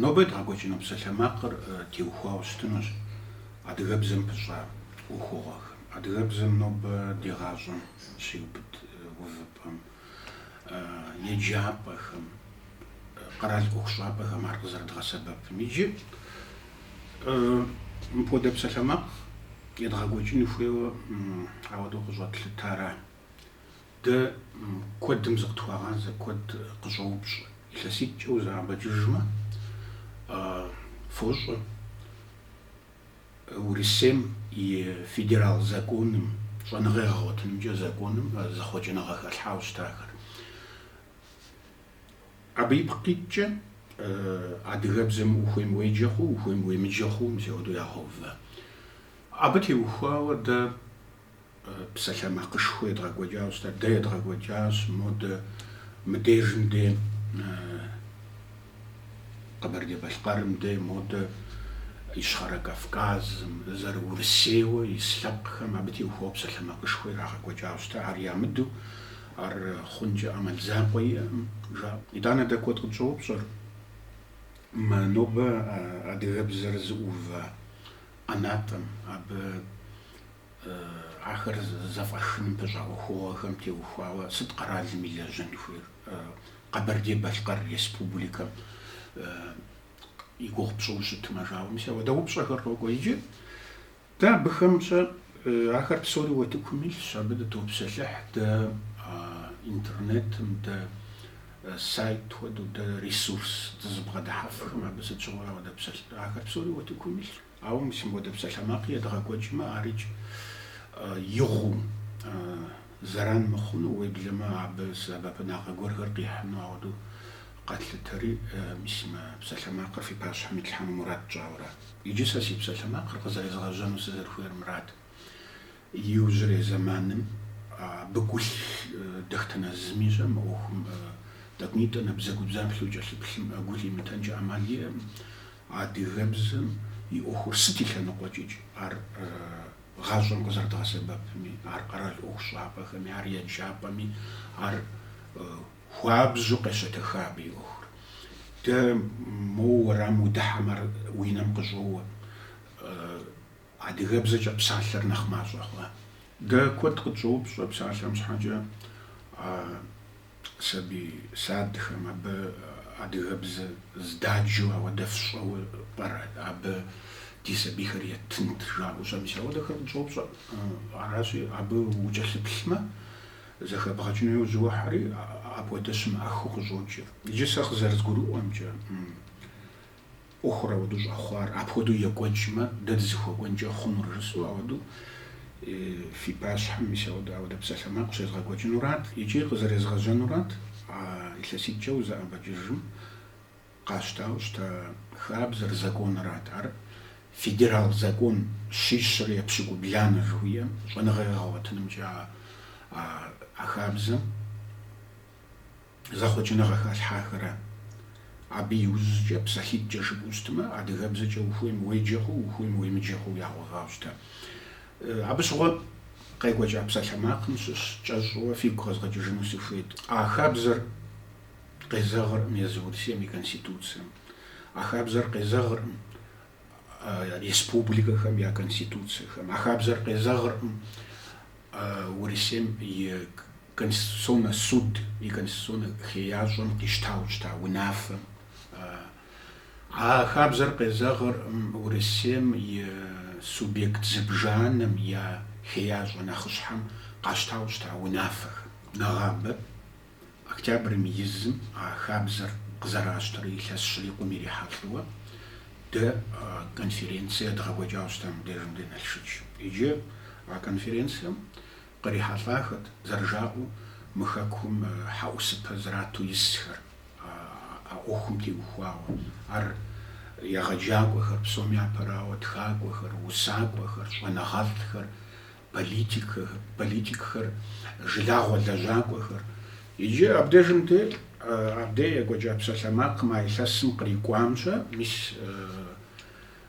Нобэ едгъэкӏуэкӏыну псалъэмакъыр теухуауэ щытынущ адыгэбзэм пыщӏа ӏуэхугъуэхэм. Адыгэбзэм нобэ ди гъащӏэм щиубыд увыпӏэм, еджапӏэхэм, къэрал ӏуэхущӏапӏэхэм ар къызэрыдгъэсэбэпым. Иджы мыпхуэдэ псалъэмакъ едгъэкӏуэкӏын хуейуэ ауэдэу къыщӏэтлъытара? Дэ куэдым зыкъытхуагъазэ, куэд къыщӏоупщӏ, илъэситӏкӏэ узэӏэбэкӏыжмэ, фощӏэ Урысейм и федерал законым, щӏэныгъэ ягъэгъуэтынымкӏэ законым зэхъуэкӏыныгъэ хэлъхьауэ щытахэр. Абы ипкъ иткӏэ адыгэбзэм ухуейм уеджэ хъу, ухуейм уемыджэ хъу, мис ауэдэу ягъэувэ. Абы теухуауэ дэ Псалъэмакъышхуэ едгъэкӏуэкӏауэ щытат, дэ едгъэкӏуэкӏащ, модэ мыдежым де, Къэбэрдей-Балъкъэрым де, модэ Ищхъэрэ Кавказым, зэрыурысейуэ ис лъэпкъхэм абы теухуауэ псалъэмакъышхуэ ирагъэкӏуэкӏауэ щытат, ар ямыдэу ар хъункӏэ ӏэмал закъуэ иӏэм, жаӏэ. Итӏанэ дэ куэд къытщӏоупщӏэр, нобэ адыгэбзэр зыӏуува ӏэнатӏэм, абы Ахэр зэфӏэхыным пыщӏа ӏуэхугъуэхэм теухуауэ сыт къэралым илэжьын хуейр? Къэбэрдей-Балъкъэр Республикэм и гугъу пщӏыу щытмэ, жаӏэу мис ауэдэ упщӏэхэр къокӏуэ иджы. Дэ абыхэмкӏэ ахэр псори утыкум илъщ, абы дытопсэлъыхь дэ интернетым, дэ сайт хуэдэу, дэ ресурс дызыбгъэдыхьэфхэм абы сыт щыгъуэурэ къыдэпсэлъ. Ахэр псори утыкум илъщ. Ауэ мис мыпхуэдэ псалъэмакъ едгъэкӏуэкӏмэ, ар икӏ игъуу зэран мыхъуну, уеблэмэ абы сэбэпынагъэ гуэрхэр къихьыну ауэдэу къэтлъытэри, мис мы псалъэмакъыр фи пащхьэм итлъхьэну мурад тщӏауэра? Иджы сэ си псалъэмакъыр къызэрезгъэжьэну сызэрыхуейр мырат, иужьрей зэманым абы гу лъыдэхтэнэ зыми щӏэ мы ӏуэхум тӏэкӏунитӏэ набдзэгубдзаплъэу кӏэлъыплъым гу лъимытэнкӏэ ӏэмал иӏэм, Адыгэбзэм и ӏуэхур сыт и лъэныкъуэкӏикӏ, ар гъащӏэм къызэрыдгъэсэбэпми, ар къэрал ӏуэхущӏапӏэхэми, ар еджапӏэми, ар хуабжьу къещэтэха абы и ӏуэхур. Дэ моуэ уэрам удыхьэм ар уи нэм къыщӏоуэ. Адыгэбзэкӏэ псалъэр нэхъ мащӏэ хъуа? Дэ куэд къытщӏоупщӏэ псалъэм щхьэкӏэ, а сабий садхэм, абы адыгэбзэ здаджэу ауэдэ фщӏэуэ пӏэрэ абы ди сабийхэр еттынт жаӏэу щэ? Мис ауэдэхэр къытщӏоупщӏэ. Аращи, абы укӏэлъыплъмэ, зэхэбгъэкӏыну яужь уохьэри, апхуэдэ щымыӏэхыу къыщӏокӏыр. Иджы сэ къызэрызгурыӏуэмкӏэ, ӏуэхур ауэдэу щӏэхъуар апхуэдэу екӏуэкӏмэ, дэ дызыхуэкӏуэнкӏэ хъунур жысӏэу ауэдэу фи пащхьэм мис ауэдэ ауэдэ псалъэмакъ щезгъэкӏуэкӏынурат икӏи къызэрезгъэжьэнурат а илъэситӏкӏэ узэӏэбэкӏыжым къащтауэ щыта хабзэр, законырат. Ар федерал закон щищрэ епщыкӏубланэ жыхуиӏэм щӏэныгъэ егъэгъуэтынымкӏэ а хабзэм. зэхъуэкӏыныгъэ халъхьахэрэ? Абы иужькӏэ, псалъитӏкӏэ жыпӏэу щытмэ, адыгэбзэкӏэ ухуейм уеджэ хъу, ухуейм уемыджэ хъу ягъуэгъауэ щыта. Абы щыгъуэ къекӏуэкӏа псалъэмакъым щыщ кӏэщӏу фигу къэзгъэкӏыжыну сыхуейт. А хабзэр къезэгъыркъым езы Урысейм и Конституцием. А хабзэр къезэгъыркъым республикэхэм я конституцияхэм. А хабзэр къезэгъыркъым Урысейм и Конституционнэ суд и конституционнэ хеящӏэм къищтауэ щыта унафэм. А хабзэр къезэгъыркъым Урысейм и субъект зыбжанэм я хеящӏэ нэхъыщхьэм къащтауэ щыта унафэхэм. Нэгъабэ. Октябрым и зым а хабзэр къызэращтэрэ илъэс щрикъум ирихьэлӏэуэ дэ конференцие едгъэкӏуэкӏауэ щыта мыбдежым де Налшык. Иджы а конференцием кърихьэлӏахэт, зэрыжаӏэу, мы хэкум хьэӏусыпэ зрату исхэр, а ӏуэхум теухуауэ. Ар егъэджакӏуэхэр псоми япэрауэ, тхакӏуэхэр, усакӏуэхэр, щӏэныгъэлӏхэр, политикхэр, жылагъуэ лэжьакӏуэхэр. Иджы абдежым де абдей екӏуэкӏа псалъэмакъым а илъэсым кърикӏуам щэ, мис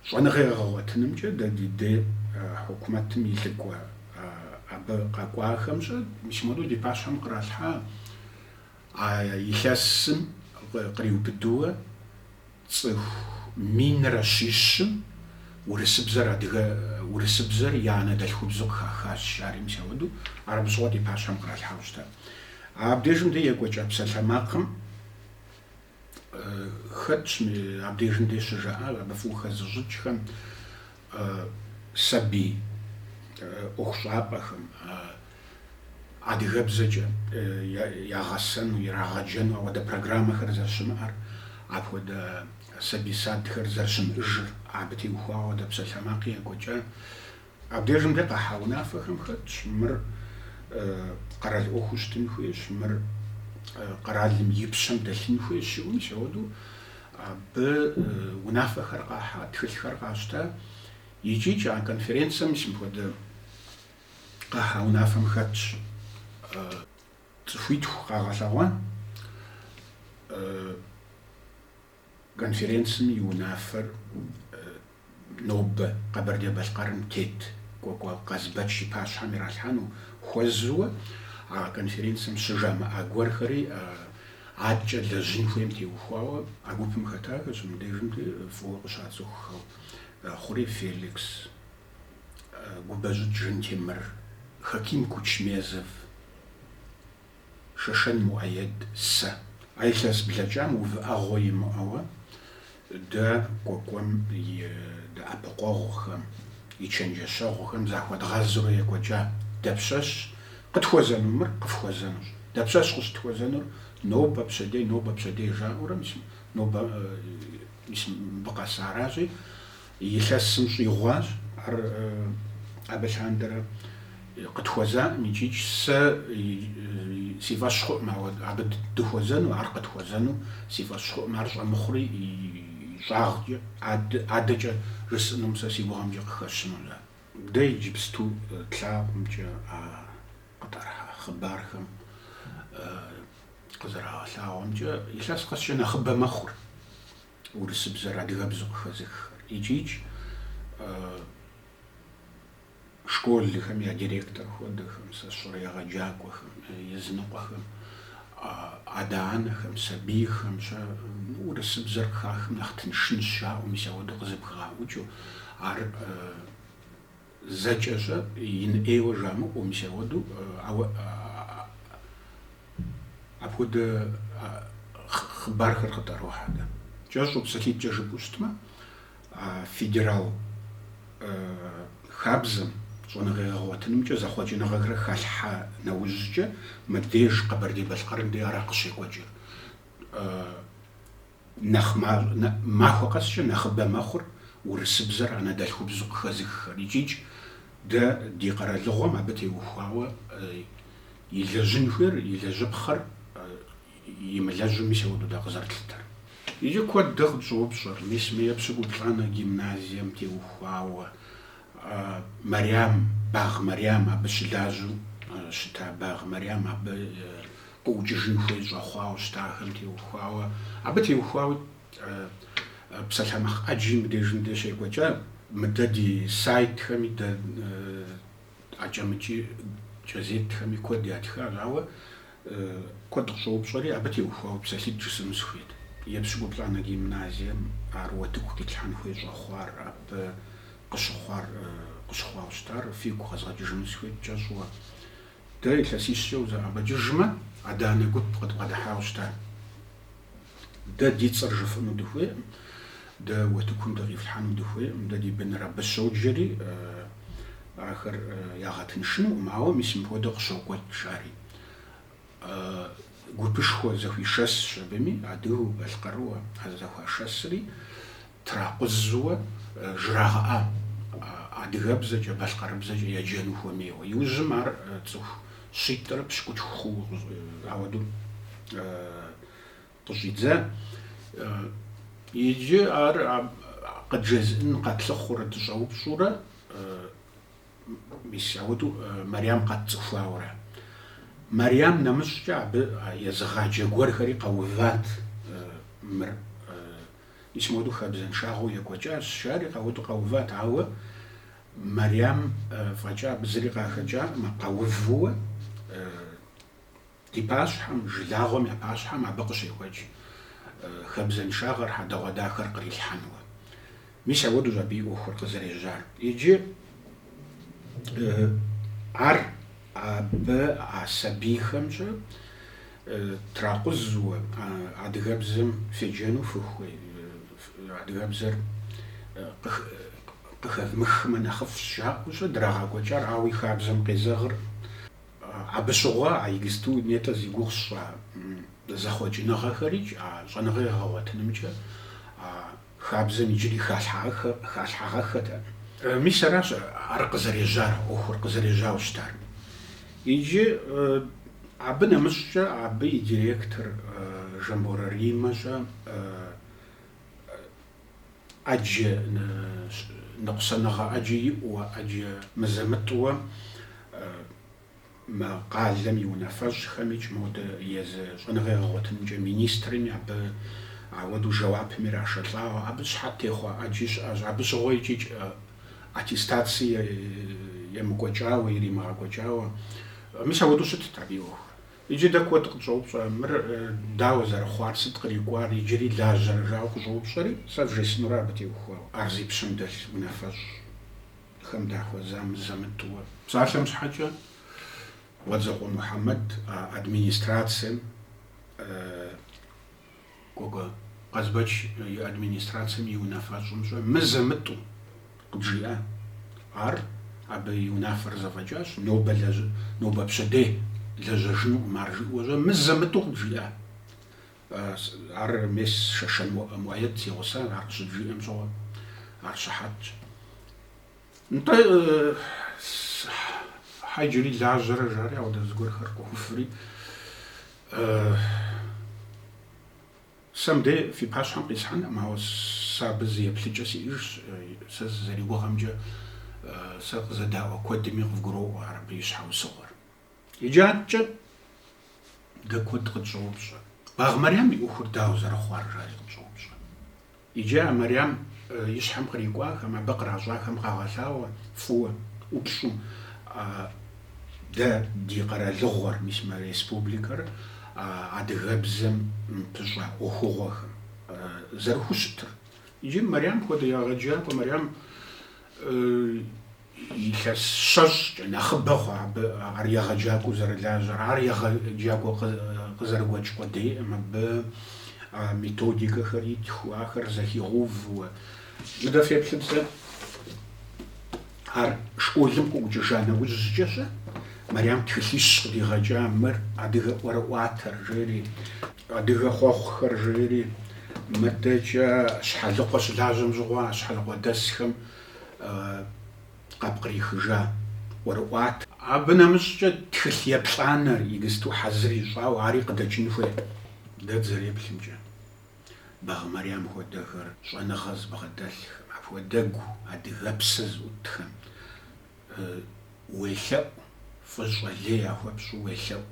щӏэныгъэ егъэгъуэтынымкӏэ дэ ди дей хьукумэтым и лӏыкӏуэ абы къэкӏуахэм щэ, мис модэу ди пащхьэм къралъхьа а илъэсым къриубыдэуэ. Цӏыху минрэ щищым урысыбзэр адыгэ урысыбзэр я анэдэлъхубзу къыхахащ, жари мис ауэду, ар абы щыгъуэ ди пащхьэм къралъхьэу щытар. Абдежым де екӏуэкӏа псалъэмакъым хэтщ, абдежым де щыжаӏа абы фӏыуэ хэзыщӏыкӏхэм, сабий ӏуэхущӏапӏэхэм адыгэбзэкӏэ ягъэсэну, ирагъэджэну ауэдэ программэхэр зэрыщымыӏэр, апхуэдэ сабий садхэр зэрыщымыӏыжыр абы теухуауэ апхуэдэ псалъэмакъи екӏуэкӏа. Абдежым де къахьа унафэхэм хэтщ мыр къэрал ӏуэхуу щытын хуейщ, мыр къэралым и пщэм дэлъын хуейщ жиӏэу мис ауэдэу Абы унафэхэр къахьа тхылъхэр къащта икӏи а конференцэм мис мыпхуэдэ къахьа унафэм хэтщ цӏыхуитху къагъэлъэгъуэн конференцэм и унафэр. Нобэ Къэбэрдей-Балъкъэрым тет Кӏуэкӏуэ Къазбэч и пащхьэм иралъхьэну хуэзэуэ а конференцэм щыжамыӏа гуэрхэри адкӏэ лэжьын хуейм теухуауэ а гупым хэтахэщ, мыбдежым деи фӏыуэ къыщацӏыхухэу Хъурей Феликс, Губэщӏыкӏ Жантемыр, Хаким Кучмезов, Шэшэн Муӏэед, сэ. А илъэс блэкӏам увыӏэгъуэ имыӏэуэ дэ Кӏуэкӏуэм и дэӏэпыкъуэгъухэм, и чэнджэщэгъухэм захуэдгъэзурэ екӏуэкӏа. Дапщэщ къытхуэзэну мыр? Къыфхуэзэнущ. Дапщэщ къыщытхуэзэнур? Нобэ, пщэдей, нобэ, пщэдей жаӏэурэ мис нобэ, мис мыбы къэсаращи, Илъэсым щӏигъуащ ар абы лъандэрэ къытхуэзаӏым икӏи сэ си фӏэщ хъуӏым абы дыхуэзэну, ар къытхуэзэну си фӏэщ хъуӏым, ар щӏэмыхъури и щӏагъкӏэ, адэкӏэ жысӏэнум сэ си гугъэмкӏэ къыхэщыну. А дэ иджыпсту тлъагъумкӏэ а къытӏэрыхьа хъыбархэм къызэрагъэлъагъуэмкӏэ илъэс къэскӏэ нэхъыбэ мэхъур. урысыбзэр адыгэбзэу къыхэзыххэр. Икӏи школхэм я директор хуэдэхэм, сэ сщӏэрэ егъэджакӏуэхэм, языныкъуэхэм, адэ-анэхэм, сабийхэм щэ урысыбзэр къыхахым нэхъ тыншынщ жаӏэу, мис ауэдэу къызэпхагъэӏукӏыу ар Зэкӏэ щэ ин ӏейуэ жамыӏэу мис ауэдэу, ауэ апхуэдэ хъыбархэр къытӏэрохьэ дэ. Кӏэщӏу псалъитӏкӏэ жыпӏэу щытмэ, а федерал хабзэм щӏэныгъегъэгъуэтынымкӏэ зэхъуэкӏыныгъэхэр халъхьа нэужькӏэ мыбдеж Къэбэрдей-Балъкъэрым де ара къыщекӏуэкӏыр. Нэхъ махуэ къэскӏэ нэхъыбэ мэхъур урысыбзэр анэдэлъхубзу къыхэзыххэр икӏикӏ дэ ди къэралыгъуэм абы теухуауэ илэжьын хуейр, илэжьыпхъэр имылэжьу мис ауэду дэ къызэрытлъытэр. Икӏи куэд дэ къытщӏоупщӏэр, мис мы епщыкӏуплӏанэ гимназием теухуауэ Мэрям, Багъ Мэрям, абы щылажьэу щыта Багъ Мэрям абы къыӏукӏыжын хуей щӏэхъуауэ щытахэм теухуауэ, абы теухуауэ псалъэмакъ ӏэджи мыбдежым деж щекӏуэкӏа, мыдэ ди сайтхэми, дэ акӏэ-мыкӏи кӏэзетхэми куэд ятхащ, ауэ куэд къыщӏоупщӏэри, абы теухуауэ псалъитӏ жысӏэну сыхуейт. Епщыкӏуплӏанэ гимназием ар уэтыку къитлъхьэн хуей щӏэхъуар, абы къыщыхъуар къыщыхъуауэ щытар фигу къэзгъэкӏыжыну сыхуейт кӏэщӏу. Дэ илъэсищкӏэ узэӏэбэкӏыжмэ, адэ-анэ гуп къыдбгъэдыхьауэ щыта. Дэ ди цӏэр жыфӏыну дыхуейкъым, дэ уэтыкум дыкъифлъхьэну дыхуейкъым, дэ ди быныр абы щоджэри, ахэр ягъэтыншынукъым, ауэ мис мыпхуэдэу къыщокӏуэкӏ, жари. Гупышхуэ зэхуишэсщ абыми, адыгэу, балъкъэрыуэ а зэхуашэсри, Тракъузуэ жрагъэӏа адыгэбзэкӏэ, балъкъэрыбзэкӏэ еджэну хуэмейуэ. Иужьым ар цӏыху щитӏрэ пщыкӏутху хъууэ ауэдэу къыщӏидза. Иджы ар къыджезыӏэн къэтлъыхъуурэ дыщӏэупщӏурэ, мис ауэдэу Мэрям къэтцӏыхуауэ ара. Мэрям нэмыщӏкӏэ абы езыгъаджэ гуэрхэри къэуват мыр. Мис моду хабзэншагъэу екӏуэкӏащ, жари къэуду къэуват, ауэ Мэрям фӏэкӏа абы зыри къахэкӏакъым, къэувууэ ди пащхьэм, жылагъуэм я пащхьэм абы къыщекӏуэкӏ хабзэншагъэр, хьэдэгъуэдахэр кърилъхьэнуэ. Мис ауэдущ абы и ӏуэхур къызэрежьар. Иджы ар. Абы а сабийхэм-щэ тракъузуэ адыгэбзэм феджэну фыхуей, адыгэбзэр къыхэвмыхмэ нэхъыфӏщ жаӏэу-щэ драгъэкӏуэкӏар, ауэ и хабзэм къезэгъыр. Абы щыгъуэ а иджыпсту нетӏэ зи гугъу сщӏа зэхъуэкӏыныгъэхэрикӏ а щӏэныгъэ егъэгъуэтынымкӏэ а Хабзэм иджыри халъхьагъэххэт ар. Мис аращ ар къызэрежьар, ӏуэхур къызэрежьауэ щытар. Иджы абы нэмыщӏкӏэ абы и директор Жамборэ Риммэ-щэ ӏэджэ ныкъусаныгъэ ӏэджэ иӏуэ, ӏэджэ мызэ-мытӏуэ, Мы къалэм и унафэщӏхэмикӏ, модэ езы щӏэныгъэ егъэгъуэтынымкӏэ министрми абы ауэдэу жэуапым ирашэлӏауэ. Абы щхьэт техъуэ ӏэджи щыӏэщ. Абы щыгъуэ икӏи аттестаци емыкӏуэкӏауэ, иримыгъэкӏуэкӏауэ. Мис ауэдэу щытт абы и ӏуэхур. Иджы дэ куэд къытщӏоупщӏэ, мыр дауэ зэрыхъуар, сыт кърикӏуар, иджыри лажьэрэ жауэ къыщӏоупщӏэри, сэ вжесӏэнур абы теухуауэ. Ар зи пщэм дэлъ унафэщӏ. Хэм дахуэза мызэ-мытӏэу, псалъэм щхьэкӏэ Къуэдзокъуэ Мухьэмэд а администрацэм, Кӏуэкӏуэ Къазбэч и администрацэм и унафэщӏымщӏэ мызэ-мытӏэу къыджиӏа. Ар абы и унафэр зэфӏэкӏащ, нобэ нобэ пщэдей лэжьэжынукъым ар жиӏуэщӏэ мызэ-мытӏэу къыджиӏа. Ар мес Шэшэн Муаед си гъусэ, ар къыщыджиӏэм щыгъуэ, ар щыхьэтщ. Нтӏэ, щхьэ иджыри лажьэрэ, жари ауэдэ зыгуэрхэр къохуфри, сэ мыбдей фи пащхьэм къисхьэнӏым, ауэ сэ абы зы еплъыкӏэ сиӏэжщ, сэ сызэригугъэмкӏэ, сэ къызэдаӏуэ куэдми къывгуроӏуэ ар абы и щхьэусыгъуэр. Иджаткӏэ дэ куэд къытщӏоупщӏэ, Багъ Мэрям и ӏуэхур дауэ зэрыхъуар, жари къытщӏоупщӏэ. Иджы а Мэрям и щхьэм кърикӏуахэм, абы къращӏахэм къагъэлъагъуэ фӏыуэ, ӏупщӏу дэ ди къэралыгъуэр, мис мы республикэр, адыгэбзэм пыщӏа ӏуэхугъуэхэм зэрыхущытыр. Иджы Мэрям хуэдэ егъэджакӏуэ Мэрям Илъэс щэщӏкӏэ нэхъыбэ хъуа абы ар егъэджакӏуэу зэрылажьэр, ар егъэджакӏуэ къызэрыгуэкӏ къудейӏым, абы методикэхэр итхыу, ахэр зэхигъэувууэ. Мыдэ феплъыт зэ, ар школым къыӏукӏыжа нэужькӏэщӏэ, Мэрям тхылъищ къыдигъэкӏа мыр адыгэ ӏуэрыӏуатэр, жери, адыгэ хъуэхъухэр, жери, мыдэкӏэ Щхьэлыкъуэ щылажьэм щыгъуэ а щхьэлыкъуэдэсхэм, къапкърихыжа ӏуэрыӏуат. Абы нэмыщӏкӏэ тхылъ еплӏанэр, иджысту хьэзыр ищӏауэ, ари къыдэкӏын хуей. Дэ дызэреплъымкӏэ, Багъ Мэрям хуэдэхэр щӏэныгъэ зыбгъэдэлъхэм, апхуэдэгу адыгэпсэ зыӏутхэм уелъэӏу, фӏыщӏэ лей яхуэпщӏу уелъэӏу.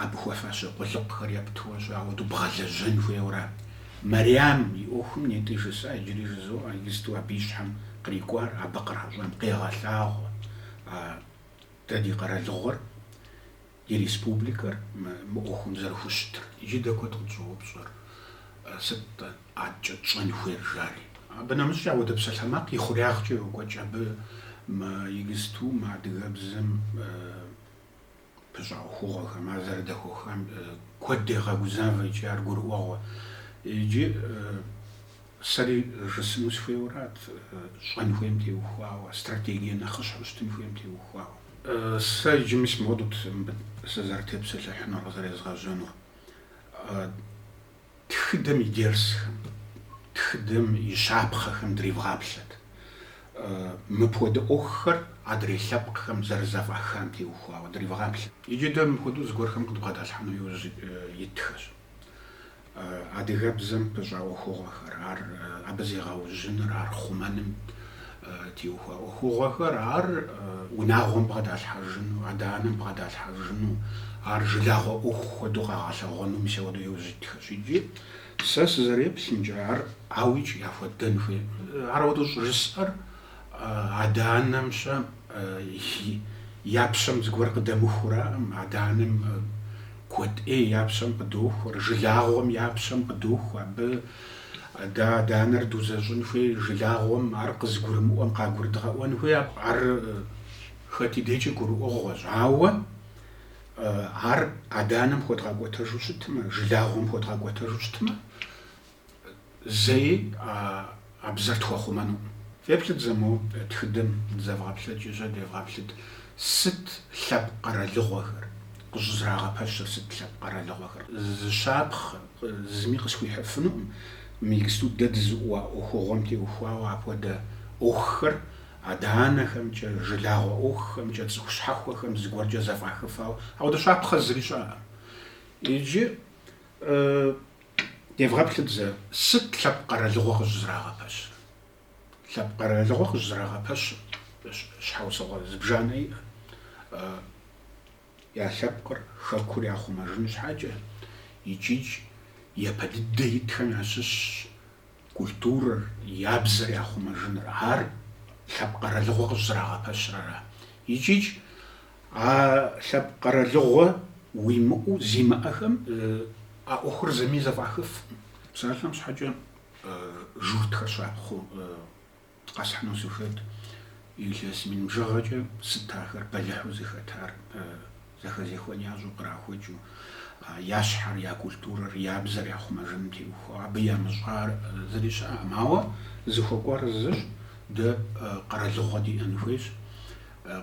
Абы хуэфащэ къулыкъухэр епту-щэ ауэдэу бгъэлэжьэн хуейуэра? Мэриям и ӏуэхум нетӏи жысӏа, иджыри жызоӏэ, иджысту абы и щхьэм кърикӏуар абы къращӏам къегъэлъагъуэ дэ ди къэралыгъуэр, ди республикэр мы ӏуэхум зэрыхущытыр. Иджы дэ куэд къытщӏоупщӏэр, сыт адэкӏэ тщӏэн хуейр, жари. Абы нэмыщӏкӏэ ауэдэ псалъэмакъ и хъуреягъкӏэ йокӏуэкӏ абы мы иджысту мы адыгэбзэм. Пыщӏа ӏуэхугъуэхэм ар зэрыдэхуэхам куэд дегъэгузавэ икӏи ар гурыӏуэгъуэ. Иджы сэри жысӏэну сыхуейуэрат, щӏэн хуейм теухуауэ, стратегие нэхъыщхьу щытын хуейм теухуауэ. Сэ иджы мис мыуэдут мыбы сызэрытепсэлъыхьынур, къызэрезгъэжьэнур. Тхыдэм и дерсхэм, тхыдэм и щапхъэхэм древгъаплъэт. Мыпхуэдэ ӏуэхухэр адрей лъэпкъхэм зэрызэфӏахам теухуауэ древгъаплъэт. Иджы дэ мыпхуэдэу зыгуэрхэм къыдбгъэдалъхьэну иужь итхэщ. Адыгэбзэм пыщӏа ӏуэхугъуэхэр, ар абы зегъэужьыныр, ар хъумэным, теухуа ӏуэхугъуэхэр, ар унагъуэм бгъэдалъхьэжыну, адэ-анэм бгъэдалъхьэжыну, ар жылагъуэ ӏуэху хуэдэу къагъэлъэгъуэну мис ауэдэу иужь итхэщ. Иджы сэ сызэреплъымкӏэ, ар ауикӏ яхуэдэн хуейкъым. Ар ауэдэу щӏыжысӏэр адэ-анэм-щэ я пщэм зыгуэр къыдэмыхураӏым, адэ-анэм куэд ӏей я пщэм къыдохуэр, жылагъуэм я пщэм къыдохуэ, абы Адэ адэ-анэр дузэщӏын хуей жылагъуэм, ар къызгурымыӏуэм къагурыдгъэӏуэн хуей, ар хэт и дейкӏи гурыӏуэгъуэщ. Ауэ ар адэ-анэм хуэдгъэкӏуэтэжу щытмэ, жылагъуэм хуэдгъэкӏуэтэжу щытмэ, зэи а бзэр тхуэхъумэнукъым. Феплъыт зэ мо тхыдэм дызэвгъэплъэкӏыж-щэ девгъэплъыт, сыт лъэпкъ къэралыгъуэхэр, къыщӏызэрагъэпэщыр сыт лъэпкъ къэралыгъуэхэр? Зы щапхъэ Зыми къысхуихьыфынукъым мы иджысту дэ дызыӏууа ӏуэхугъуэм теухуауэ апхуэдэ ӏуэхухэр, адэ-анэхэмкӏэ, жылагъуэ ӏуэхухэмкӏэ, цӏыху щхьэхуэхэм зыгуэркӏэ зэфӏахыфауэ, ауэдэ щапхъэ зыри щыӏэкъым. Иджы девгъэплъыт зэ, сыт лъэпкъ къэралыгъуэ къыщӏызрагъэпэщыр? Лъэпкъ къэралыгъуэ къыщӏызэрагъэпэщыр щхьэусыгъуэ зыбжанэ иӏэ. Я лъэпкъыр хэкур яхъумэжын щхьэкӏэ, икӏикӏ япэ дыдэ итхэм ящыщщ культурэр, я бзэр яхъумэжыныр. Ар лъэпкъ къэралыгъуэ къыщӏызэрагъэпэщыр ара. Икӏикӏ а лъэпкъ къэралыгъуэ уимыӏэу зимыӏэхэм а ӏуэхур зыми зэфӏахыфкъым. Псалъэм щхьэкӏэ журтхэр щапхъэу. Къэсхьыну сыхуейт, илъэс мин бжыгъэкӏэ сыт ахэр бэлыхьу зыхэтар зэхэзехуэн ящӏу кърахуэкӏыу, я щхьэр, я культурэр, я бзэр яхъумэжыным теухуауэ, абы ямыщӏа зыри щыӏэкъым. Ауэ зыхуэкӏуар зыщ, дэ къэралыгъуэ диӏэн хуейщ,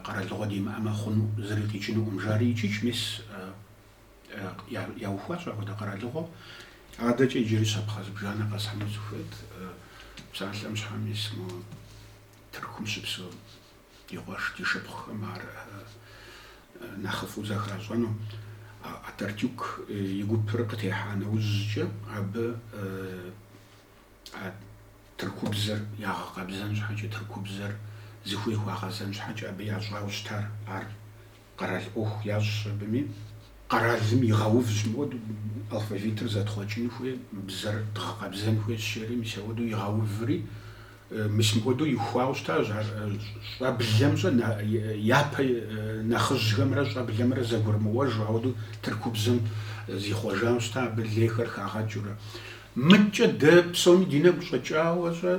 къэралыгъуэ димыӏэмэ хъуну, зыри къикӏынукъым. Жари икӏикӏ, мис яухуащ апхуэдэ къэралыгъуэ. Адэкӏэ иджыри щапхъэ зыбжанэ къэсхьыну сыхуейт. Псалъэм щхьэ мис мо Тыркум щыпсэу ди къуэш, ди шыпхъухэм ар нэхъыфӏу зэхащӏэну. Ататюрк и гупыр къытехьа нэужькӏэ абы тыркубзэр ягъэкъэбзэн щхьэкӏэ, тыркубзэр зыхуей хуагъэзэн щхьэкӏэ абы ящӏауэ щытар ар Къэрал ӏуэху ящӏщ абыми. Къэралым игъэувщ, мыуэду алфавитыр зэтхъуэкӏын хуей, бзэр дгъэкъэбзэн хуейщ жери, мис ауэдэу игъэуври, мис мыуэду ихуауэ щытащ, щӏэблэм щӏэ, япэ нэхъыжьхэмрэ щӏэблэмрэ зэгурымыӏуэжу, ауэдэу тыркубзэм зихъуэжауэ щыта абы лейхэр хагъэкӏыурэ. Мыдкӏэ дэ псоми ди нэгу щӏэкӏауэ щӏэ?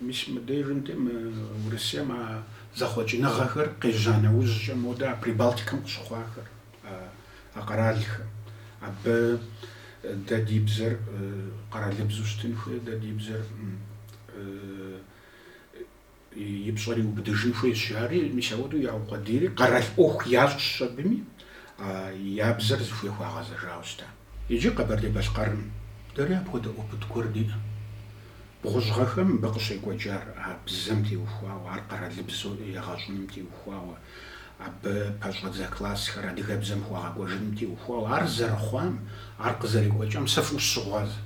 Мис мыбдежым дей мы Урысейм а зэхъуэкӏыныгъэхэр къежьа нэужькӏэ модэ а Прибалтикэм къыщыхъуахэр а къэралхэм. Абы дэ ди бзэр къэралыбзу щытын хуей, дэ ди бзэр и пщӏэр иубыдыжын хуейщ, жари. Мис ауэдэу яукъуэдийри, къэрал ӏуэху ящӏщ абыми, я бзэр зыхуей хуагъэзэжауэ щыта. Иджы Къэбэрдей-Балъкъэрым дэри апхуэдэ опыт гуэр диӏэ. Бгъущӏ гъэхэм мыбы къыщекӏуэкӏар а бзэм теухуауэ, ар къэралыбзэу егъэщӏыным теухуауэ, абы пэщӏэдзэ классхэр адыгэбзэм хуэгъэкӏуэжыным теухуауэ. Ар зэрыхъуам, ар къызэрекӏуэкӏам сэ фӏыуэ сыщыгъуазэ.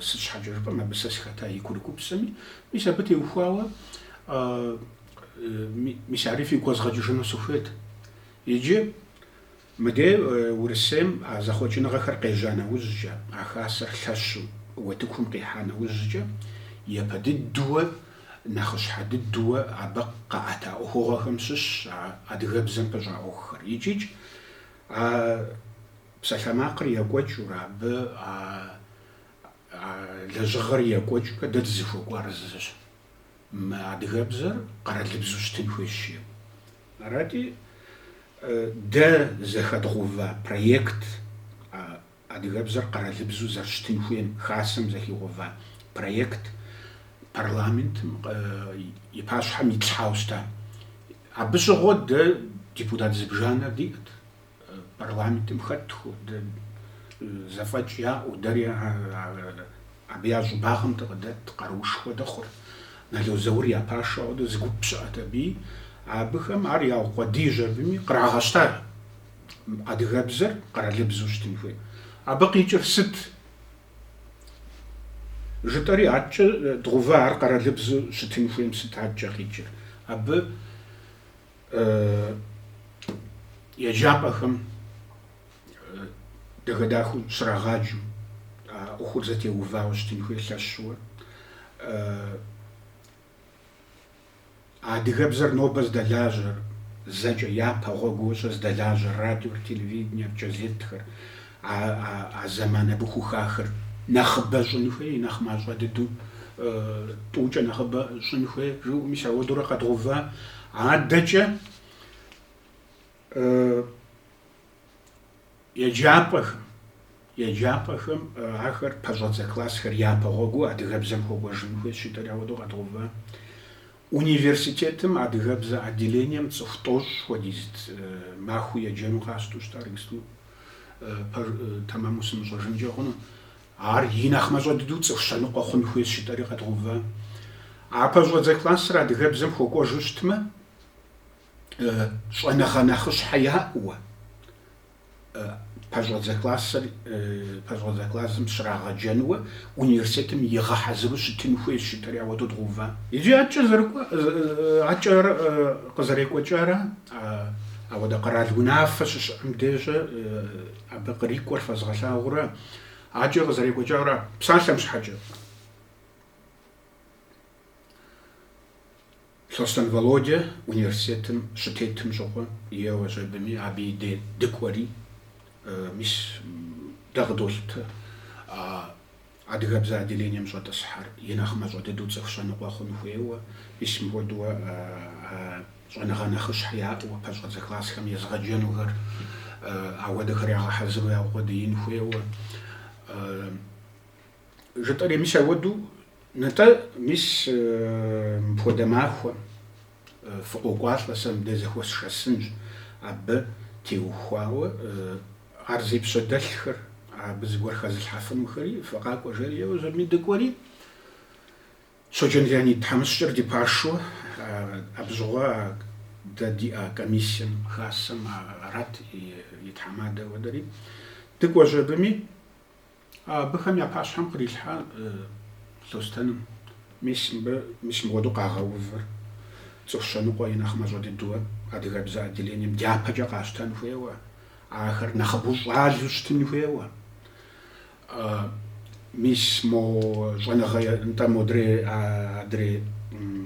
Сыт щхьэкӏэ жыпӏэм, абы сэ сыхэта и курыкупсэми, мис абы теухуауэ, мис ари фигу къэзгъэкӏыжыну сыхуейт. Иджы Мыдей Урысейм а зэхъуэкӏыныгъэхэр къежьа нэужькӏэ, а хасэр лъэщу утыкум къихьа нэужькӏэ, япэ дыдууэ, нэхъыщхьэ дыдууэ абы къаӏэта ӏуэхугъуэхэм щыщщ а адыгэбзэм пыщӏа ӏуэхухэр икӏикӏ а псалъэмакъыр екӏуэкӏыурэ, абы а лэжьыгъэр екӏуэкӏыурэ дэ дызыхуэкӏуар зыщ. мы адыгэбзэр къэралыбзу щытын хуейщ. Арати, дэ зэхэдгъэува проект, адыгэбзэр къэралыбзу зэрыщытын хуейм Хасэм зэхигъэува проект парламентым и пащхьэм итлъхьауэ щыта. Абы щыгъуэ дэ депутат зыбжанэр диӏэт. Парламентым хэтху, зэфӏэкӏ яӏэу, дэри абы я щӏыбагъым дыкъыдэт, къаруушхуэ дыхъурт. Нало Заур я пашэ хуэдэу зы гуп щыӏэт абыи. Абыхэм ар яукъуэдийщ абыми, кърагъэщтар адыгэбзэр къэралыбзэу щытын хуей. Абы къикӏыр сыт? жытӏэри, аткӏэ дгъувэ ар къэралыбзэу щытын хуейм сыт аткӏэ къикӏыр? Абы еджапӏэхэм дахэ-дахэу щрагъаджэу, а ӏуэхур зэтеувауэ щытын хуей лъэщуэ. Адыгэбзэр нобэ здэлажьэр, зэкӏэ япэ гъуэгуэщӏэ здэлажьэр радиор, телевидениер, газетхэр, А зэман абы хухахыр нэхъыбэ щӏын хуей, нэхъ мащӏэ дыдэу, тӏукӏэ нэхъыбэ щӏын хуей, жыӏэу мис ауэдурэ къэдгъува. Адэкӏэ еджапӏэхэм, еджапӏэхэм ахэр пэщӏэдзэ классхэр япэ гъуэгуу адыгэбзэм хуэкӏуэжын хуейщ жытӏэри ауэдэу къэдгъува. Университетым адыгэбзэ отделением цӏыху тӏощӏ хуэдизт махуэ еджэну къащту щытар, иджыпсту пэж тэмэму сымыщӏэжынкӏэ хъуну. Ар и нэхъ мащӏэ дыдэу цӏыху щэныкъуэ хъун хуейщ жытӏэри къэдгъува. А пэщӏэдзэ классыр адыгэбзэм хуэкӏуэжу щытмэ, щӏэныгъэ нэхъыщхьэ яӏэуэ. Пэщӏэдзэ классыр пэщӏэдзэ классым щрагъэджэнуэ университетым игъэхьэзыру щытын хуейщ, жытӏэри ауэдэу дгъува. Иджы адэкӏэ зэрыкӏуэ, адэкӏэ къызэрекӏуэкӏарэ, ауэдэ къэрал унафэ щыщыӏэм дежьэ абы кърикӏуэр фэзгъэлъагъурэ, адэкӏэ къызэрекӏуэкӏарэ псалъэм щхьэкӏэ. Лъостэн Володя университетым щытетым щыгъуэ, еуэщ абыми, абы и дей дыкӏуэри, мис дэ къыдолъытэ а адыгэбзэ отделением щӏэтӏысхьэр, и нэхъ мащӏэ дыдэу цӏыху щэныкъуэ хъун хуейуэ, мис мыхуэдууэ щӏэныгъэ нэхъыщхьэ яӏэуэ, пэщӏэдзэ классхэм езыгъэджэнухэр ауэдэхэр ягъэхьэзыру яукъуэдиин хуейуэ. Жытӏэри мис ауэду, нтӏэ, мис мыпхуэдэ махуэм фыкъокӏуалӏэ, сэ мыбдэ зэхуэсшэсынщ абы теухуауэ, ар зи пщэдэлъхэр, абы зыгуэр хэзылъхьэфынухэри, фыкъакӏуэ, жери еуэщ абыми дыкӏуэри, Щоджэн Леонид, тхьэмыщкӏэр ди пашэу, абщыгъуэ дэ диӏэ комиссием, хасэм арат и тхьэмадэ хуэдэри, дыкӏуэщ абыми. Абыхэм я пащхьэм кърилъхьэ Лъостэным. Мис мыбы, мис мыуэдэу къагъэувыр, цӏыху щэныкъуэ и нэхъ мащӏэ дыдэу, адыгэбзэ отделением дяпэкӏэ къащтэн хуейуэ, ахэр нэхъыбэу щӏалэу щытын хуейуэ. Мис мо щӏэныгъэ нтӏэ модрей, адрей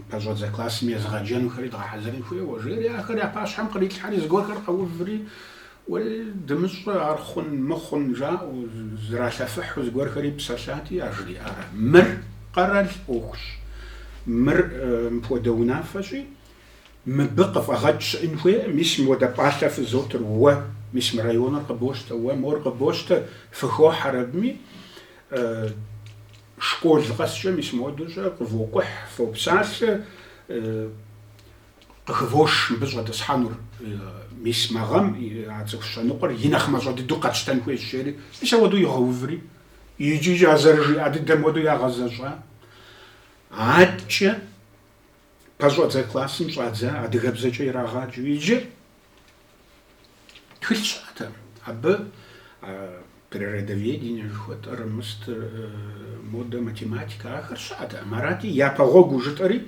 пэщӏэдзэ классым езыгъэджэнухэри дгъэхьэзырын хуейуэ, жери ахэр я пащхьэм кърилъхьэри, зыгуэрхэр къэуври, Уей, дымыщӏэ, ар хъун, мыхъун, жаӏэу, зралъэфыхьу зыгуэрхэри псэлъати, яжриӏар: Мыр къэрал ӏуэхущ. Мыр мыпхуэдэ унафэщи, мыбы къыфӏэгъэкӏ щыӏын хуейкъым. Мис мыуэдэ пӏалъэ фызотыр уэ, мис мы районыр къыбощтэ уэ, мор къыбощтэ, фыхохьэр абыми, школ къэскӏэ мис мыуэдэу щӏэ, къывокӏухь, фопсалъэ, Къыхывош мыбы щӏэтӏысхьэнур. Мис мы гъэм а цӏыху щэныкъуэр и нэхъ мащӏэ дыдэу къэтщтэн хуейщ, жери, мис ауэдэу игъэуври, икӏи а зэрыжиӏа дыдэм хуэдэу ягъэзэщӏа. Аткӏэ пэщӏэдзэ классым щӏадза адыгэбзэкӏэ ирагъаджэу иджы тхылъ щыӏэтэкъым абы природоведение жыхуэтӏэр, мыст, модэ, математикэ ахэр щыӏэтэкъым. Арати, япэ гъуэгуу жытӏэри.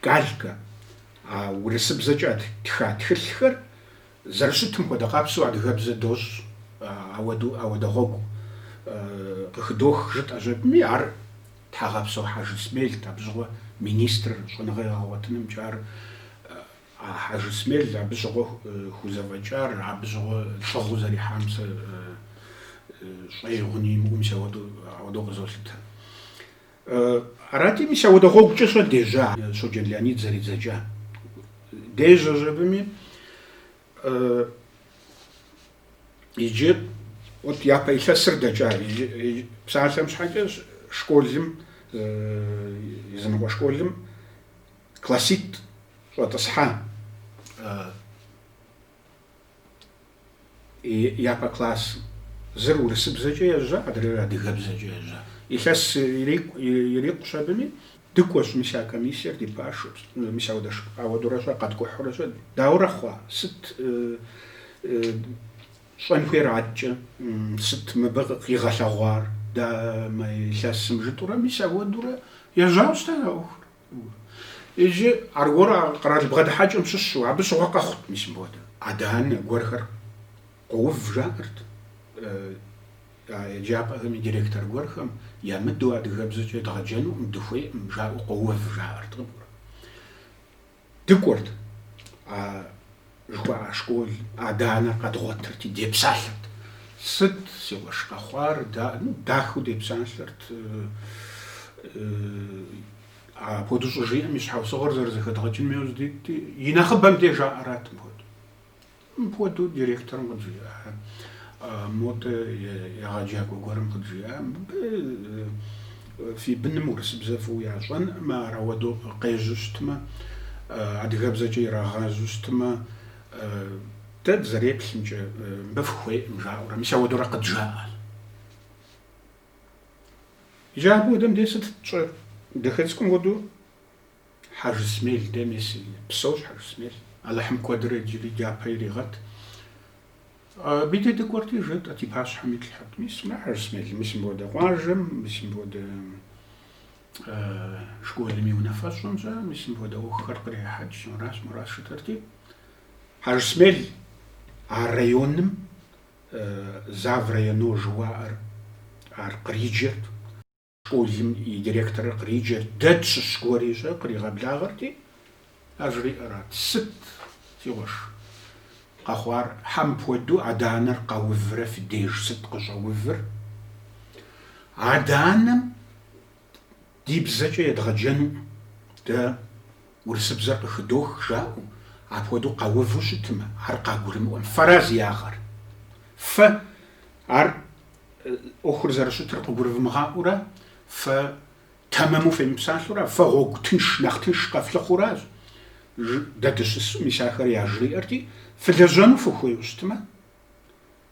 Калькэ, а урысыбзэкӏэ тха тхылъхэр зэрыщытым хуэдэ къабзэу адыгэбзэ дощӏ, ауэдэу ауэдэ гъуэгу къыхыдох жытӏэщ абыми, ар Тхьэгъэпсэу Хьэжысмелт, абы щыгъуэ министрыр, щӏэныгъэ егъэгъуэтынымкӏэ ар а Хьэжысмел абы щыгъуэ хузэфӏэкӏар, абы щыгъуэ лӏыгъэу зэрихьам сэ щӏэи гъуни имыӏэу мис ауэдэу къызолъытэ. Арати, мис ауэдэ гъуэгукӏэ щӏэ дежьа Щоджэн Леонид зэридзэкӏа дежьэщ абыми. Иджы вот япэ илъэсыр дэкӏа псалъэм щхьэкӏэ школым, языныкъуэ школым класситӏ щӏэтӏысхьа Япэ класс зыр урысыбзэкӏэ ежьа, адрейр адыгэбзэкӏэ ежьа. Илъэс ирикъущ абыми, дыкӏуэщ мис а комиссиер ди пашэу, мис ауэдэурэ щӏэ къэткӏухьурэ щӏэ дауэрэ хъуа? Сыт щӏэн хуейр аткӏэ? Сыт мыбы къигъэлъэгъуар дэ мы илъэсым жытӏурэ мис ауэдурэ ежьауэ щытащ а ӏуэхур. Иджы аргуэру а къэрал бгъэдыхьэкӏэм щыщу, абы щыгъуэ къэхъут, мис мыпхуэдэ. Адэ-анэ гуэрхэр къоув жаӏэрт а еджапӏэхэм и директор гуэрхэм, ямыдэу адыгэбзэкӏэ дгъэджэнукъым, дыхуейкъым, жаӏэу къоув жаӏэрт. Дыкӏуэрт. жыхуаӏэ школ адэ-анэр къэдгъуэтырти, депсалъэрт. Сыт си къуэш къэхъуар, да-? Ну, дахэу депсалъэрт. Апхуэдэу щӏыжиӏэм и щхьэусыгъуэр зэрызэхэдгъэкӏыным яужь дитти, и нэхъыбэм де жаӏэрат мыпхуэдэу. Мыпхуэдэу директорым къыджиӏа, модэ егъэджакӏуэ гуэрым къыджиӏа, мыбы, Фи быным урысыбзэ фӏыуэ ящӏэнкъым, ар ауэдэу къежьэу щытмэ, адыгэбзэкӏэ ирагъэжьэу щытмэ, дэ дызэреплъымкӏэ, мыбы фыхуейкъым жаӏэурэ, мис ауэдэурэ къыджаӏэ. Иджы абы хуэдэм дей сыт тщӏэр? Дахэ цӏыкӏум хуэдэу. Хьэжысмел де, мес псэущ Хьэжысмел. Алыхьым куэдрэ иджыри дяпэ иригъэт. Абы де дыкӏуэрти жытӏэт, и пащхьэм итлъхьэрт. Мис мэ Хьэжысмел, мис мыпхуэдэ къуажэм, мис мыпхуэдэ школым и унафэщӏым щӏэ, мис мыпхуэдэ ӏуэхухэр кърехьэкӏ, мыращ, моращ жытӏэрти. Хьэжысмел а районым зав районо жыуаӏэр ар къриджэрт. Школым и директорыр къриджэрт, дэ тщыщ гуэри щӏэ къригъэблагъэрти, ар жриӏэрат, Сыт, си къуэш, къэхъуар? Щхьэ мыпхуэдэу адэ-анэр къэуврэ фи деж сыт къыщӏэувыр? Адэ-анэм ди бзэкӏэ едгъэджэну дэ урысыбзэр къыхыдох жаӏэу, апхуэдэу къэуву щытмэ, ар къагурымыӏуэм фэра зи ягъэр? Фэ ар ӏуэхур зэрыщытыр къыгурывмыгъаӏуэурэ, фэ тэмэму фемыпсалъэурэ, фэ гъуэгу тынш, нэхъ тынш къэфлъыхъуэуращ, жи, дэ дыщысу мис ахэр яжриӏэрти, фылэжьэну фыхуейуэ щытмэ,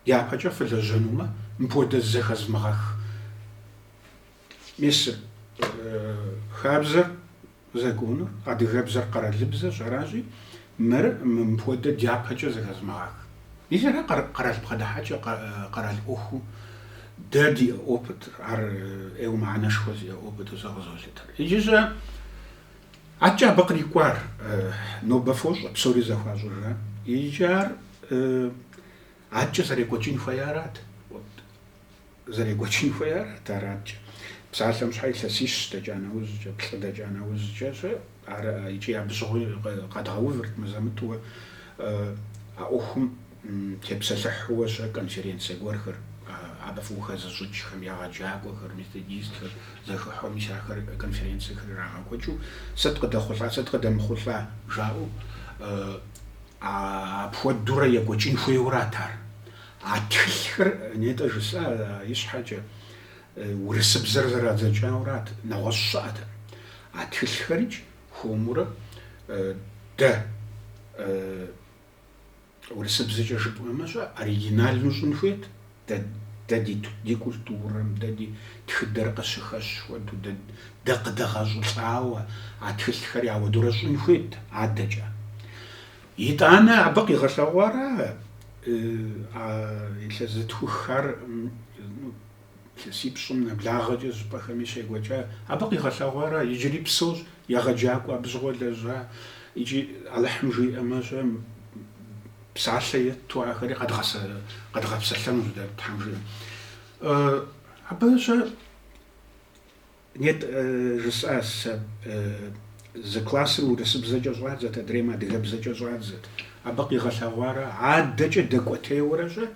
дяпэкӏэ фылэжьэнумэ, мыпхуэдэ зэхэзмыгъэх. Мис хабзэр, законыр, адыгэбзэр къэралыбзэщ, аращи, мыр мыпхуэдэ дяпэкӏэ зэхэзмыгъэх. Мис ара къэрал бгъэдыхьэкӏэ, къэрал ӏуэхуу дэ ди опытыр, ар ӏейуэ мыхьэнэшхуэ зиӏэ опыту сэ къызолъытэр. Иджы щӏэ атчӏэ абы кърикӏуар нобэ фощӏэ, псори зэхуащӏыжа. Иджы ар атчӏэ зэрекӏуэкӏын хуея арат. Зэрекӏуэкӏын хуеяр араткӏэ. Псалъэм щхьэ илъэсищ дэкӏа нэужькӏэ, плӏы дэкӏа нэужькӏэ щӏэ, ар икӏи абы щыгъуи къэдгъэувырт мызэ-мытӏуэ а ӏуэхум тепсэлъыхьууэ щӏэ конференцэ гуэрхэр, абы фӏыуэ хэзыщӏыкӏхэм, егъэджакӏуэхэр, методистхэр зэхыхьэу, мис ахэр конференцэхэр ирагъэкӏуэкӏыу, сыт къыдэхъулӏа, сыт къыдэмыхъулӏа жаӏэу, апхуэдурэ екӏуэкӏын хуейуэ арат ар. А тхылъхэр, нетӏэ жысӏа ищхьэкӏэ, урысыбзэр зэрадзэкӏаурат, нэгъуэщӏ щыӏэт. А тхылъхэрикӏ хуэмурэ дэ урысыбзэкӏэ жыпӏэмэ щӏэ, оригинальну щӏын хуейт, дэ, дэ ди, ди культурэм, дэ ди тхыдэр къыщыхэщ хуэдэу, дэ, дэ къыдэгъэщӏылӏауэ а тхылъхэри ауэдурэ щӏын хуейт адэкӏэ. Итӏанэ абы къигъэлъэгъуара а илъэс зытхуххэр, ну, илъэсипщӏым нэблагъэкӏэ щӏыпӏэхэми щекӏуэкӏа, абы къигъэлъэгъуара иджыри псэущ, егъэджакӏуэ, абы щыгъуэ лэжьа икӏи Алыхьым жиӏэмэ-щэ, псалъэ етту ахэри къэдгъэпсэлъэнущ дэ, Тхьэм жиӏэм. Абы-щэ? Нетӏэ жысӏа сэ, зы классыр урысыбзэкӏэ щӏадзэт, адрейм адыгэбзэкӏэ щӏадзэт. Абы къигъэлъэгъуара? Адэкӏэ дэкӏуэтейуэрэ щӏэ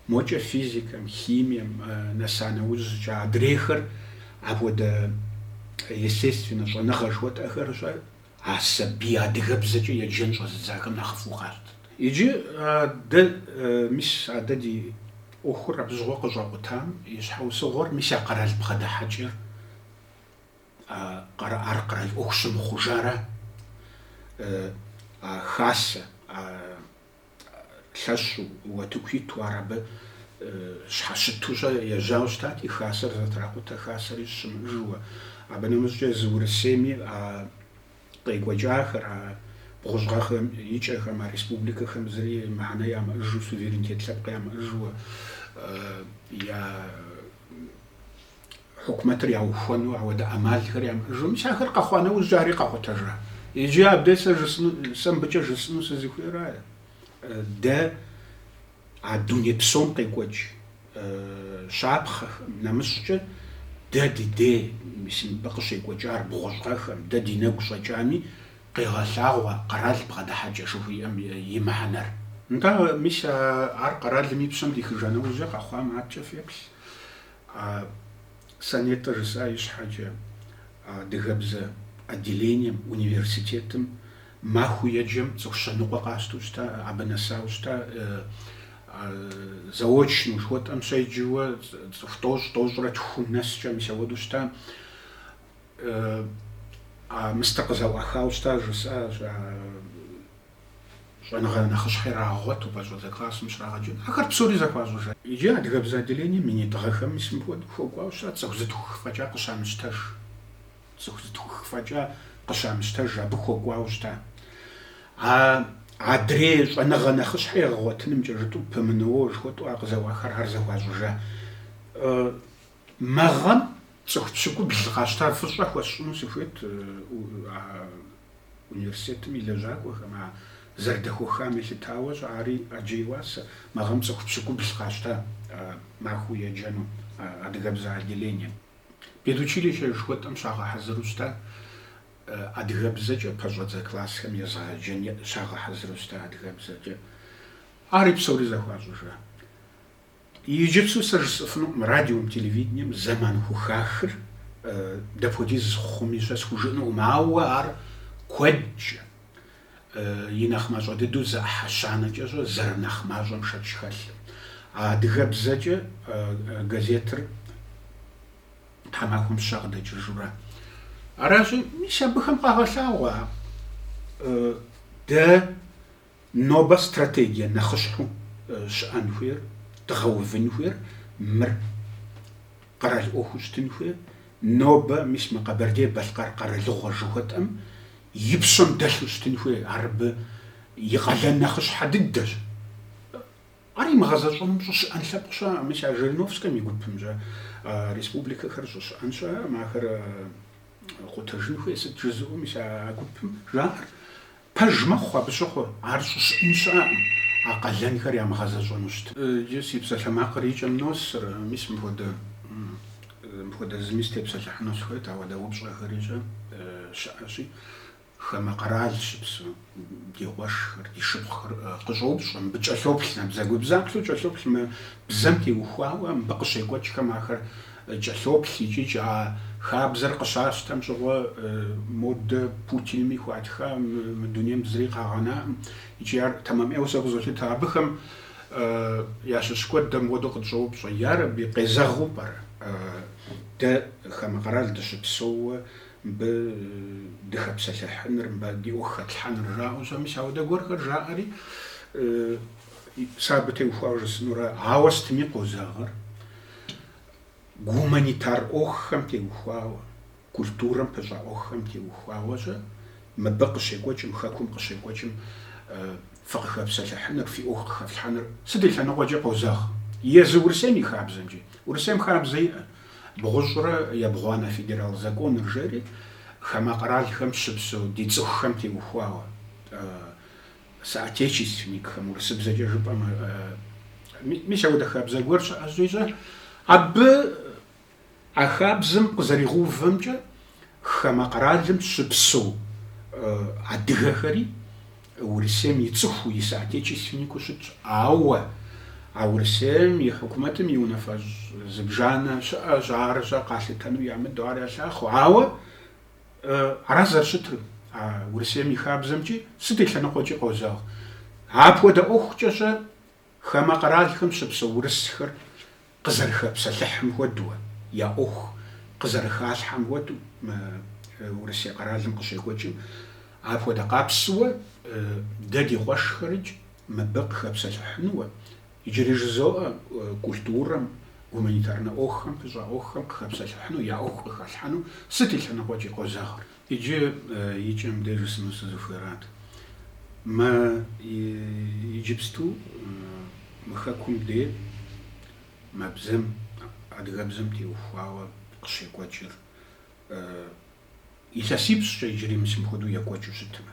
мокӏэ физикэм, химием нэса нэужькӏэ адрейхэр апхуэдэ естественнэ щӏэныгъэ жыхуэтӏэхэр щӏэ А сабий адыгэбзэкӏэ еджэн щӏэзыдзахэм нэхъыфӏу къащтэт. Иджы а дэ, мис а дэ ди ӏуэхур абы щыгъуэ къыщӏэкъутам и щхьэусыгъуэр, мис я къэрал бгъэдыхьэкӏэр ар къэрал ӏуэху щымыхъужара, а хасэ, а Лъэщу утыку иту ар абы щхьэщыту-щэ ежьауэ щытати, хасэр зэтракъутэ хасэри щымыӏыжууэ. Абы нэмыщӏкӏэ езы Урысейми а къекӏуэкӏахэр, а бгъущӏ гъэхэм и кӏэхэм, а республикэхэм зыри мыхьэнэ ямыӏыжу, суверенитет лъэпкъ ямыӏыжууэ я Хьукумэтыр яухуэну ауэдэ ӏэмалхэр ямыӏэжу, мис ахэр къэхъуа нэужь ари къэкъутэжа? Иджы абдей сэ жысӏэну, сэ мыбыкӏэ жысӏэну сызыхуейра? Дэ а дуней псом къекӏуэкӏ щапхъэхэм, нэмыщӏкӏэ дэ ди дей, мис мыбы къыщекӏуэкӏар бгъущӏ гъэхэм, дэ ди нэгу щӏэкӏами, къегъэлъагъуэ къэрал бгъэдыхьэкӏэ жыхуиӏэм и мыхьэнэр. Нтӏэ, мис ар къэралым и пщэм дихыжа нэужькӏэ къэхъуам адэкӏэ феплъ. А сэ нетӏэ жысӏа ищхьэкӏэ, адыгэбзэ отделением, университетым махуэу еджэм цӏыху щэныкъуэ къащтэу щыта, абы нэсауэ щыта. Заочнэу жыхуэтӏэм щеджэуэ цӏыху тӏощӏ, тӏощӏрэ тхум нэскӏэ, мис ауэдэу щыта. А мыстэ къызэӏуахауэ щыта жысӏа, а Щӏэныгъэ нэхъыщхьэ ирагъэгъуэту пэщӏэдзэ классым щрагъэджэну ахэр псори зэхуащӏыжа. Иджы адыгэбзэ отделением минитӏ гъэхэм мис мыпхуэдэу хуэкӏуауэ щыта цӏыху зытхух фӏэкӏа къыщамыщтэж. Цӏыху зытхух фӏэкӏа къыщамыщтэж абы хуэкӏуауэ щыта. А адрей щӏэныгъэ нэхъыщхьэ егъэгъуэтынымкӏэ жытӏу ПМНО жыхуэтӏу ар къызэӏуахар ар зэхуащӏыжа. Мы гъэм цӏыху пщыкӏубл къащта фӏыщӏэ хуэсщӏыну сыхуейт а университетым и лэжьакӏуэхэм, а зэрыдэхуэхам елъытауэ щэ ари ӏэджэ и уасэ. Мы гъэм цӏыху пщыкӏубл къащта махуэу еджэну адыгэбзэ отделением. Педучилищэ жыхуэтӏэм щагъэхьэзыру щыта адыгэбзэкӏэ пэщӏэдзэ классхэм езыгъэджэн щагъэхьэзыру щыта адыгэбзэкӏэ. Ари псори зэхуащӏыжа. Иджыпсу сэ жысӏыфынукъым радиом, телевидением зэман хухахыр дапхуэдиз хъуми щэ схужыӏынукъым, ауэ ар куэдкӏэ и нэхъ мащӏэ дыдэу зы ӏыхьэ щанэкӏэ щӏэ зэрынэхъ мащӏэм шэч хэлъым. А адыгэбзэкӏэ газетыр тхьэмахуэм щэ къыдэкӏыжурэ аращи, мис абыхэм къагъэлъагъуэ дэ Нобэ стратегие нэхъыщхьэу щыӏэн хуейр, дгъэувын хуейр мыр. Къэрал ӏуэхуу щытын хуейр нобэ, мис мы Къэбэрдей-Балъкъэр къэралыгъуэ жыхуэтӏэм и пщэм дэлъу щытын хуейр, ар абы и къалэн нэхъыщхьэ дыдэщ. Ар имыгъэзэщӏэным щӏыщыӏэн лъэпкъ щыӏэкъым, мис а Жириновскэм и гупымкӏэ республикэхэр щӏыщыӏэн щыӏэкъым, ахэр къутэжын хуей, сыт жызыӏэу, мис а гупым жаӏэр. Пэж мэхъу абы щыгъуэ, ар щӏыщыӏэн щыӏэкъым, а къалэнхэр ямыгъэзэщӏэну щытым. Иджы си псалъэмакъыр и кӏэм носыр, мис мыпхуэдэ, мыпхуэдэ зыми степсэлъыхьыну сыхуейт, ауэдэ упщӏэхэрикӏ щыӏэщи, хамэ къэрал щыпсэу, ди къуэшхэр, ди шыпхъухэр къыщӏоупщӏэ, мыбы кӏэлъоплъ, набдзэгубдзаплъэу кӏэлъоплъ мы бзэм теухуауэ, мыбы къыщекӏуэкӏхэм ахэр. Кӏэлъоплъ икӏикӏ а хабзэр къыщащтэм щыгъуэ модэ Путинми хуатха, мы дунейм зыри къагъэнаӏым икӏи ар тэмэм ӏейуэ сэ къызолъытэ. Абыхэм ящыщ куэд дэ мыуэдэу къытщӏоупщӏэ, ярэби, къезэгъыу пӏэрэ дэ хамэ къэрал дыщыпсэууэ мыбы дыхэпсэлъыхьыныр, мыбы ди ӏуэху хэтлъхьэныр жаӏэу щэ? Мис ауэдэ гуэрхэр жаӏэри, сэ абы теухуауэ жысӏэнурэ, ауэ сытми къозэгъыр. гуманитар ӏуэхухэм теухуауэ, культурэм пыщӏа ӏуэхухэм теухуауэ-щэ мыбы къыщекӏуэкӏым, Хэкум къыщекӏуэкӏым фыкъыхэпсэлъыхьыныр, фи ӏуэху къыхэфлъхьэныр сыт и лъэныкъуэкӏи къозэгъ. Езы Урысейм и хабзэмкӏи. Урысейм хабзэ иӏэ, бгъущӏрэ ебгъуанэ федерал законыр жери хамэ къэралхэм щыпсэу ди цӏыхухэм теухуауэ. соотечественникхэм, урысыбзэкӏэ жыпӏэм, мис ауэдэ хабзэ гуэр щыӏэщи-щэ, абы а хабзэм къызэригъэувэмкӏэ хамэ къэралым щыпсэу адыгэхэри Урысейм и цӏыхуу, и соотечественнику щытщ. Ауэ а Урысейм и хьукумэтым и унафэщӏ зыбжанэ щыӏэщ, ар-щэ къалъытэну ямыдэу ар ялъахъуэ. Ауэ Ара зэрыщытыр а Урысейм и хабзэмкӏи сыт и лъэныкъуэкӏи къозэгъ. Апхуэдэ ӏуэхукӏэ-щэ хамэ къэралхэм щыпсэу урысхэр къызэрыхэпсэлъыхьым хуэдэуэ, я ӏуэху къызэрыхалъхьэм хуэдэу мы Урысей къэралым къыщекӏуэкӏым апхуэдэ къабзэуэ дэ ди къуэшхэрыкӏ мыбы къыхэпсэлъыхьынуэ, Иджыри жызоӏэ культурэм, гуманитарнэ ӏуэхухэм пыщӏа ӏуэхухэм къыхэпсэлъыхьыну, я ӏуэху къыхалъхьэну сыт и лъэныкъуэкӏи къозэгъыр. Иджы и кӏэм де жысӏэну сызыхуейрат. Мы иджыпсту мы хэкум де мы бзэм, адыгэбзэм теухуауэ къыщекӏуэкӏыр илъэсипщӏкӏэ иджыри мис мыхуэдэу екӏуэкӏыу щытмэ.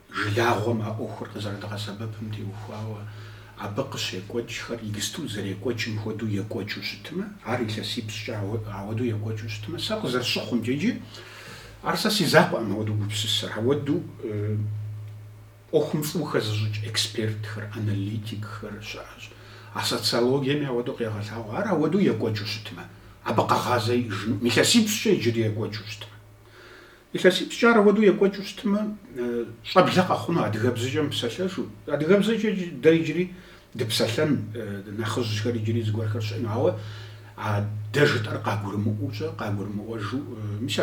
Жылагъуэм а ӏуэхур къызэрыдгъэсэбэпым теухуауэ абы къыщекӏуэкӏхэр иджысту зэрекӏуэкӏым хуэдэу екӏуэкӏыу щытмэ, ар илъэсипщӏкӏэ ауэдэу екӏуэкӏыу щытмэ, сэ къызэрысщыхъумкӏэ иджы, ар сэ си закъуэӏым ауэдэу гупсысэр, ауэдэу ӏуэхум фӏыуэ хэзыщӏыкӏ экспертхэр, аналитикхэр щыӏэщ, а социологиеми ауэдэу къегъэлъагъуэ, ар ауэдэу екӏуэкӏыу щытмэ, абы къэгъазэ иӏэжынукъым, илъэсипщӏкӏэ иджыри екӏуэкӏыу щытмэ. Илъэсипщӏкӏэ ар ауэдэу екӏуэкӏыу щытмэ, щӏэблэ къэхъуну адыгэбзэкӏэ мыпсэлъэжу. Адыгэбзэкӏэ дэ иджыри дыпсэлъэн, нэхъыжьхэр иджыри зыгуэрхэр щыӏэну, ауэ а дэ жытӏэр къагурымыӏуэу-щэ, къагурымыӏуэжу, мис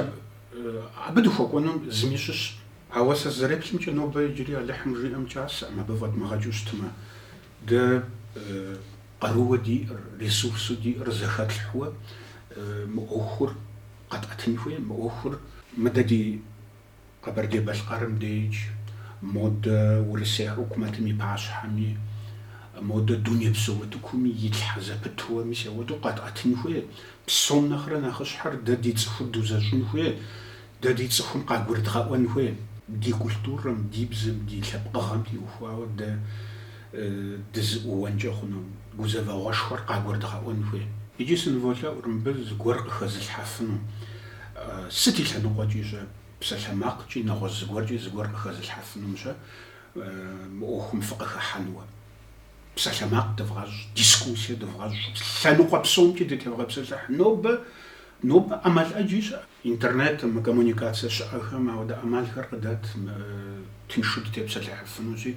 абы дыхуэкӏуэну зыми щыщ. Ауэ сэ сызэреплъымкӏэ, нобэ иджыри Алыхьым жиӏэм кӏасэӏым, абы фӏэдмыгъэкӏыу щытмэ, дэ къарууэ диӏэр, ресурсу диӏэр зэхэтлъхьуэ мы ӏуэхур Къэтӏэтын хуей мы ӏуэхур. Мыдэ ди Къэбэрдей-Балъкъэрым деж, модэ Урысей хьукумэтым и пащхьэми, модэ дунейпсо утыкуми итлъхьэ зэпытууэ мис ауэдэу къэтӏэтын хуей. Псом нэхърэ нэхъыщхьэр дэ ди цӏыхур дузэщӏын хуей, дэ ди цӏыхум къагурыдгъэӏуэн хуей. Ди культурэм, ди бзэм, ди лъэпкъыгъэм теухуауэ дэ. дызыӏууэнкӏэ хъуну, гузэвэгъуэшхуэр къагурыдгъэӏуэн хуей. Иджы сыныволъэӏур мыбы зыгуэр къыхэзылъхьэфыну. Сыт и лъэныкъуэкӏи-щэ, псалъэмакъкӏи, нэгъуэщӏ зыгуэркӏи зыгуэр къыхэзылъхьэфынум-щэ мы ӏуэхум фыкъыхыхьэнуэ. Псалъэмакъ дывгъэщӏ, дискуссие дывгъэщӏ, лъэныкъуэ псомкӏи дытевгъэпсэлъыхь. Нобэ Нобэ ӏэмал ӏэджи щыӏэ. Интернетым, коммуникацие щыӏэхэм ауэдэ ӏэмалхэр къыдэт, тыншу дытепсэлъыхьыфынущи,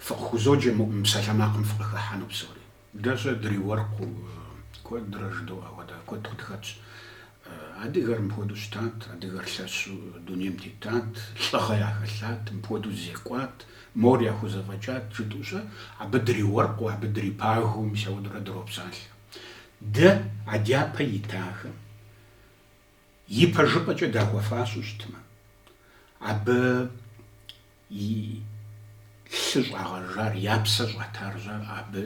фыкъыхузоджэ мы псалъэмакъым фыкъыхыхьэну псори. Дэ-щэ дриуэркъыу куэдрэ жыдоӏэ ауэдэ куэд къытхэтщ. Адыгэр мыпхуэдэу щытат, адыгэр лъэщу дунейм тетат, лӏыгъэ яхэлъат, мыпхуэдэу зекӏуат, мор яхузэфӏэкӏат жытӏэу-щэ, абы дриуэркъыу, абы дрипагэу мис ауэдурэ дропсалъэ. Дэ а дяпэ итахэм ипэжыпӏэкӏэ дахуэфащэу щытмэ, абы и лъы щӏагъэжар, я псэ щӏатар-щэ абы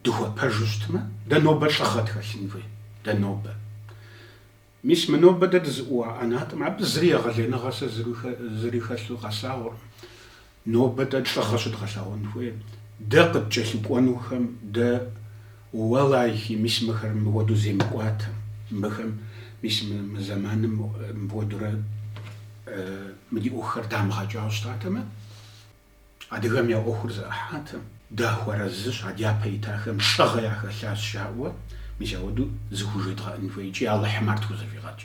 дыхуэпэжу щытмэ, дэ нобэ лӏыгъэ тхэлъын хуей, дэ нобэ. Мис мы нобэ дэ дызыӏууа ӏэнатӏэм абы зыри егъэлеиныгъэ сэ зыри хэлъу къэслъагъуркъым. Нобэ дэ лӏыгъэ щыдгъэлъэгъуэн хуейр, дэ къыткӏэлъыкӏуэнухэм, дэ уэлэхьи, мис мыхэр мыуэду земыкӏуатэм, мыхэм, мис мы зэманым мыуэдурэ мы ди ӏуэхухэр дамыгъэкӏауэ щытатэмэ. Адыгэм я ӏуэхур зэӏыхьатэм, дахуэарэзыщ, а дяпэ итахэм лӏыгъэ яхэлъащ жаӏэуэ, мис ауэду зыхужедгъэӏэн хуей икӏи Алыхьым ар тхузэфӏигъэкӏ.